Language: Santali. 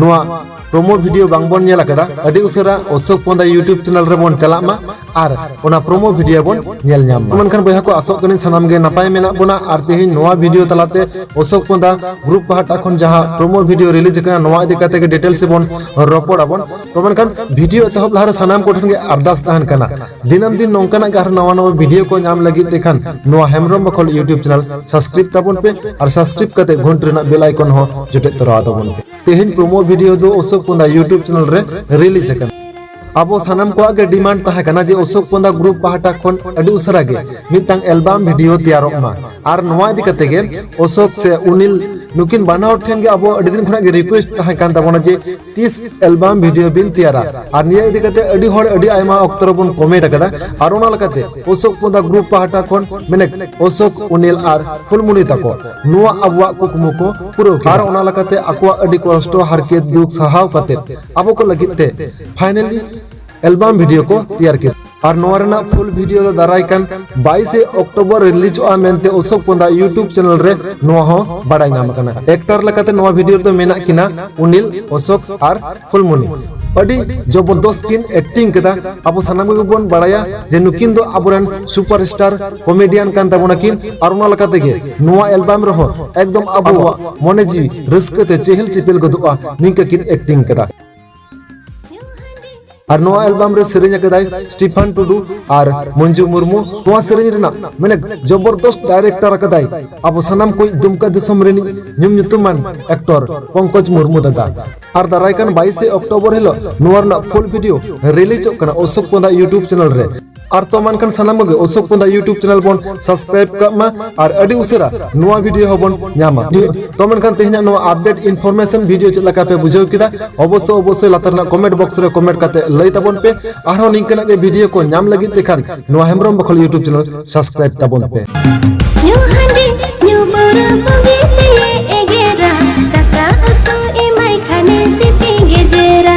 ᱱᱚᱣᱟ ᱯᱨᱳᱢᱳ ᱵᱷᱤᱰᱤᱭᱳ ᱵᱟᱝ ᱵᱚᱱ ᱧᱮᱞ ᱟᱠᱟᱫᱟ ᱟᱹᱰᱤ ᱩᱥᱟᱹᱨᱟ ᱚᱥᱳᱠ ᱯᱚᱱᱫᱟ ᱭᱩᱴᱩᱵᱽ ᱪᱮᱱᱮᱞ ᱨᱮ ᱵᱚᱱ ᱪᱟᱞᱟᱜ ᱢᱟ ᱟᱨ ᱚᱱᱟ ᱯᱨᱳᱢᱳ ᱵᱷᱤᱰᱤᱭᱳ ᱵᱚᱱ ᱧᱮᱞ ᱧᱟᱢ ᱢᱟ ᱢᱮᱱᱠᱷᱟᱱ ᱵᱚᱭᱦᱟ ᱠᱚ ᱟᱥᱚᱜ ᱠᱟᱹᱱᱟᱹᱧ ᱥᱟᱱᱟᱢ ᱜᱮ ᱱᱟᱯᱟᱭ ᱢᱮᱱᱟᱜ ᱵᱚᱱᱟ ᱟᱨ ᱛᱮᱦᱮᱧ ᱱᱚᱣᱟ ᱵᱷᱤᱰᱤᱭᱳ ᱛᱟᱞᱟᱛᱮ ᱚᱥᱳᱠ ᱯᱚᱱᱫᱟ ᱜᱨᱩᱯ ᱯᱟᱦᱴᱟ ᱠᱷᱚᱱ ᱡᱟᱦᱟᱸ ᱯᱨᱳᱢᱳ ᱵᱷᱤᱰᱤᱭᱳ ᱨᱤᱞᱤᱡᱽ ᱟᱠᱟᱱᱟ ᱱᱚᱣᱟ ᱤᱫᱤ ᱠᱟᱛᱮ ᱜᱮ ᱰᱤᱴᱮᱞᱥ ᱵᱚᱱ ᱨᱚᱯᱚᱲ ᱟᱵᱚᱱ ᱛᱚ ᱢᱮᱱᱠᱷᱟᱱ ᱵᱷᱤᱰᱤᱭᱳ ᱮᱛᱚᱦᱚᱵ ᱞᱟᱦᱟᱨᱮ ᱥᱟᱱᱟᱢ ᱠᱚᱴᱷᱮᱱ ᱜᱮ ᱟᱨᱫᱟᱥ ᱛᱟᱦᱮᱱ ᱠᱟᱱᱟ ᱫᱤᱱᱟᱹᱢ ᱫᱤᱱ ᱱᱚᱝᱠᱟᱱᱟᱜ ᱜᱮ ᱟᱨᱦᱚᱸ ᱱᱟᱣᱟ ᱱᱟᱣᱟ ᱵᱷᱤᱰᱤᱭᱳ ᱠᱚ ᱧᱟᱢ ᱞᱟᱹᱜᱤᱫ ᱛᱮᱠᱷᱟᱱ ᱱᱚᱣᱟ ᱦᱮᱢᱵᱨᱚᱢ ᱵᱟᱠᱷᱚᱞ ᱭᱩᱴᱤᱭᱩᱵᱽ ᱪᱮᱱᱮᱞ ᱥᱟᱵᱥᱠᱨᱟᱭᱤᱵᱽ ᱛᱟᱵᱚᱱ ᱯᱮ ᱟᱨ ᱥᱟᱵᱥᱠᱨᱟᱭᱤᱵᱽ ᱠᱟᱛᱮ ᱜᱷᱚᱱᱴ ᱨᱮᱱᱟᱜ ᱵᱮᱞ ᱟᱭᱠᱚᱱ ᱦᱚᱸ ᱡᱚᱴᱮᱫ ᱛᱚᱨᱟᱣ ᱛᱟᱵᱚᱱ ᱯᱮ ᱛᱮᱦᱮᱧ ᱯᱨᱳᱢᱳ ᱵᱷᱤᱰᱤᱭᱳ ᱫᱚ ᱚᱥᱳᱠ ᱯᱚᱸᱫᱟ ᱭᱩᱴᱤᱭᱩᱵᱽ ᱪᱮᱱᱮᱞ ᱨᱮ ᱨᱤᱞᱤᱡᱽ ᱟᱠᱟᱱᱟ ᱟᱵᱚ ᱥᱟᱱᱟᱢ ᱠᱚᱣᱟᱜ ᱜᱮ ᱰᱤᱢᱟᱱᱰ ᱛᱟᱦᱮᱸ ᱠᱟᱱᱟ ᱡᱮ ᱚᱥᱳᱠ ᱯᱚᱸᱫᱟ ᱜᱨᱩᱯ ᱯᱟᱦᱴᱟ ᱠᱷᱚᱱ ᱟᱹᱰᱤ ᱩᱥᱟᱹᱨᱟ ᱜᱮ ᱢᱤᱫᱴᱟᱝ ᱮᱞᱵᱟᱢ ᱵᱷᱤᱰᱤᱭᱳ ᱛᱮᱭᱟᱨᱚᱜ ᱢᱟ ᱟᱨ ᱱᱚᱣᱟ ᱤᱫᱤ ᱠᱟᱛᱮ ᱜᱮ ᱚᱥᱳᱠ ᱥᱮ ᱩᱱᱤᱞ ᱱᱩᱠᱤᱱ ᱵᱟᱱᱟ ᱦᱚᱲ ᱴᱷᱮᱱ ᱜᱮ ᱟᱵᱚ ᱟᱹᱰᱤ ᱫᱤᱱ ᱠᱷᱚᱱᱟᱜ ᱜᱮ ᱨᱤᱠᱣᱮᱥᱴ ᱛᱟᱦᱮᱸ ᱠᱟᱱ ᱛᱟᱵᱚᱱᱟ ᱡᱮ ᱛᱤᱥ ᱮᱞᱵᱟᱢ ᱵᱷᱤᱰᱤᱭᱳ ᱵᱤᱱ ᱛᱮᱭᱟᱨᱟ ᱟᱨ ᱱᱤᱭᱟᱹ ᱤᱫᱤ ᱠᱟᱛᱮ ᱟᱹᱰᱤ ᱦᱚᱲ ᱟᱹᱰᱤ ᱟᱭᱢᱟ ᱚᱠᱛᱚ ᱨᱮᱵᱚᱱ ᱠᱚᱢᱮᱱᱴ ᱟᱠᱟᱫᱟ ᱟᱨ ᱚᱱᱟ ᱞᱮᱠᱟᱛᱮ ᱚᱥᱳᱠ ᱯᱚᱫᱟ ᱜᱨᱩᱯ ᱯᱟᱦᱴᱟ ᱠᱷᱚᱱ ᱢᱮᱱᱮ ᱚᱥᱳᱠ ᱩᱱᱤᱞ ᱟᱨ ᱯᱷᱩᱞᱢᱩᱱᱤ ᱛᱟᱠᱚ ᱱᱚᱣᱟ ᱟᱵᱚᱣᱟᱜ ᱠᱩᱠᱢᱩ ᱠᱚ ᱯᱩᱨᱟᱹᱣ ᱠᱮᱫᱟ ᱟᱨ ᱚᱱᱟ ᱞᱮᱠᱟᱛᱮ ᱟᱠᱚᱣᱟᱜ ᱟᱹᱰᱤ ᱠᱚᱥᱴᱚ ᱦᱟᱨᱠᱮᱛ ᱫᱩᱠ ᱥᱟᱦᱟᱣ ᱠᱟᱛᱮ ᱟᱵᱚ ᱠᱚ ᱞᱟᱹᱜᱤᱫ ᱛᱮ ᱯᱷᱟᱭᱱᱟᱞᱤ ᱮᱞᱵᱟᱢ ᱵᱷᱤᱰᱤᱭᱳ ᱠᱚ ᱛᱮᱭᱟᱨ ᱠᱮᱫᱟ ᱟᱨ ᱱᱚᱣᱟ ᱨᱮᱱᱟᱜ ᱯᱷᱩᱞ ᱵᱷᱤᱰᱤᱭᱳ ᱫᱚ ᱫᱟᱨᱟᱭ ᱠᱟᱱ 22 ᱚᱠᱴᱳᱵᱚᱨ ᱨᱤᱞᱤᱡᱚᱜᱼᱟ ᱢᱮᱱᱛᱮ ᱚᱥᱳᱠ ᱯᱚᱱᱫᱟ ᱭᱩᱴᱩᱵᱽ ᱪᱮᱱᱮᱞ ᱨᱮ ᱱᱚᱣᱟ ᱦᱚᱸ ᱵᱟᱰᱟᱭ ᱧᱟᱢ ᱟᱠᱟᱱᱟ ᱮᱠᱴᱟᱨ ᱞᱮᱠᱟᱛᱮ ᱱᱚᱣᱟ ᱵᱷᱤᱰᱤᱭᱳ ᱨᱮᱫᱚ ᱢᱮᱱᱟᱜ ᱠᱤᱱᱟ ᱩᱱᱤᱞ ᱚᱥᱳᱠ ᱟᱨ ᱯᱷᱩᱞᱢᱩᱱᱤ ᱟᱹᱰᱤ ᱡᱚᱵᱚᱨᱫᱚᱥᱛ ᱠᱤᱱ ᱮᱠᱴᱤᱝ ᱠᱮᱫᱟ ᱟᱵᱚ ᱥᱟᱱᱟᱢ ᱠᱚᱜᱮ ᱵᱚᱱ ᱵᱟᱲᱟᱭᱟ ᱡᱮ ᱱᱩᱠᱤᱱ ᱫᱚ ᱟᱵᱚᱨᱮᱱ ᱥᱩᱯᱟᱨ ᱥᱴᱟᱨ ᱠᱚᱢᱮᱰᱤᱭᱟᱱ ᱠᱟᱱ ᱛᱟᱵᱚᱱᱟ ᱠᱤᱱ ᱟᱨ ᱚᱱᱟ ᱞᱮᱠᱟ ᱛᱮᱜᱮ ᱱᱚᱣᱟ ᱮᱞᱵᱟᱢ ᱨᱮᱦᱚᱸ ᱮᱠᱫᱚᱢ ᱟᱵᱚᱣᱟᱜ ᱢᱚᱱᱮ ᱡᱤᱣᱤ ᱨᱟᱹᱥᱠᱟᱹ ᱛᱮ ᱪᱮᱦᱮᱞ ᱪᱮᱯᱮᱞ ᱜᱚᱫᱚᱜᱼᱟ ᱱᱤᱝᱠᱟᱹ ᱠᱤᱱ ᱮᱠᱴᱤᱝ ᱠᱮᱫᱟ ᱟᱨ ᱱᱚᱣᱟ ᱮᱞᱵᱟᱢ ᱨᱮ ᱥᱮᱨᱮᱧ ᱟᱠᱟᱫᱟᱭ ᱥᱴᱤᱯᱷᱟᱱ ᱴᱩᱰᱩ ᱟᱨ ᱢᱚᱧᱡᱩ ᱢᱩᱨᱢᱩ ᱱᱚᱣᱟ ᱥᱮᱨᱮᱧ ᱨᱮᱱᱟᱜ ᱢᱮᱱᱮ ᱡᱚᱵᱚᱨᱫᱚᱥᱛ ᱰᱟᱭᱨᱮᱠᱴᱚᱨ ᱟᱠᱟᱫᱟᱭ ᱟᱵᱚ ᱥᱟᱱᱟᱢ ᱠᱚ ᱫᱩᱢᱠᱟ ᱫᱤᱥᱚᱢ ᱨᱤᱱᱤᱡ ᱧᱩᱢ ᱧᱩᱛᱩᱢᱟᱱ ᱮᱠᱴᱚᱨ ᱯᱚᱝᱠᱚᱡᱽ ᱢᱩᱨᱢᱩ ᱫᱟᱫᱟ ᱟᱨ ᱫᱟᱨᱟᱭ ᱠᱟᱱ 22 ᱚᱠᱴᱳᱵᱚᱨ ᱦᱤᱞᱳᱜ ᱱᱚᱣᱟ ᱨᱮᱱᱟᱜ ᱯᱷᱩᱞ ᱵᱷᱤᱰᱤᱭᱳ ᱨᱤᱞᱤᱡᱚᱜ ᱠᱟᱱᱟ ᱚᱥᱳᱠ ᱯᱚᱸᱫᱟ ᱤᱭᱩᱴᱩᱵᱽ ᱪᱮᱱᱮᱞ ᱨᱮ ᱟᱨ ᱛᱚ ᱢᱟᱱᱠᱷᱟᱱ ᱥᱟᱱᱟᱢ ᱜᱮ ᱚᱥᱳᱠ ᱯᱚᱱᱫᱟ ᱭᱩᱴᱩᱵ ᱪᱮᱱᱮᱞ ᱵᱚᱱ ᱥᱟᱵᱥᱠᱨᱟᱭᱤᱵ ᱠᱟᱜ ᱢᱟ ᱟᱨ ᱟᱹᱰᱤ ᱩᱥᱟᱹᱨᱟ ᱱᱚᱣᱟ ᱵᱷᱤᱰᱤᱭᱳ ᱦᱚᱸᱵᱚᱱ ᱧᱟᱢᱟ ᱛᱚ ᱢᱮᱱᱠᱷᱟᱱ ᱛᱮᱦᱮᱧ ᱱᱚᱣᱟ ᱟᱯᱰᱮᱴ ᱤᱱᱯᱷᱚᱨᱢᱮᱥᱚᱱ ᱵᱷᱤᱰᱤᱭᱳ ᱪᱮᱫ ᱞᱮᱠᱟ ᱯᱮ ᱵᱩᱡᱷᱟᱹᱣ ᱠᱮᱫᱟ ᱚᱵᱚᱥᱥᱳᱭ ᱚᱵᱚᱥᱥᱳᱭ ᱞᱟᱛᱟᱨ ᱨᱮᱱᱟᱜ ᱠᱚᱢᱮᱱᱴ ᱵᱚᱠᱥ ᱨᱮ ᱠᱚᱢᱮᱱᱴ ᱠᱟᱛᱮ ᱞᱟᱹᱭ ᱛᱟᱵᱚᱱ ᱯᱮ ᱟᱨᱦᱚᱸ ᱱᱤᱝᱠᱟᱹᱱᱟᱜ ᱜᱮ ᱵᱷᱤᱰᱤᱭᱳ ᱠᱚ ᱧᱟᱢ ᱞᱟᱹᱜᱤᱫ ᱛᱮᱠᱷᱟᱱ ᱱᱚᱣᱟ ᱦᱮᱢᱵᱨᱚᱢ ᱵᱚᱠᱷᱚᱞ ᱭᱩᱴᱩᱵ ᱪᱮᱱᱮᱞ ᱥᱟᱵᱥᱠᱨᱟᱭᱤᱵ ᱛᱟᱵᱚᱱ ᱯᱮ ᱧᱩ ᱦᱟᱺᱰᱤ ᱧᱩ ᱯᱟᱹᱣᱨᱟᱹ ᱵᱩᱜᱤ ᱛᱮᱭᱮ ᱮᱜᱮᱨᱟ ᱫᱟᱠᱟ ᱩᱛᱩ ᱮᱢᱟᱭ ᱠᱷᱟᱱᱮ ᱥᱤᱯᱤ ᱜᱮᱡᱮᱨᱟ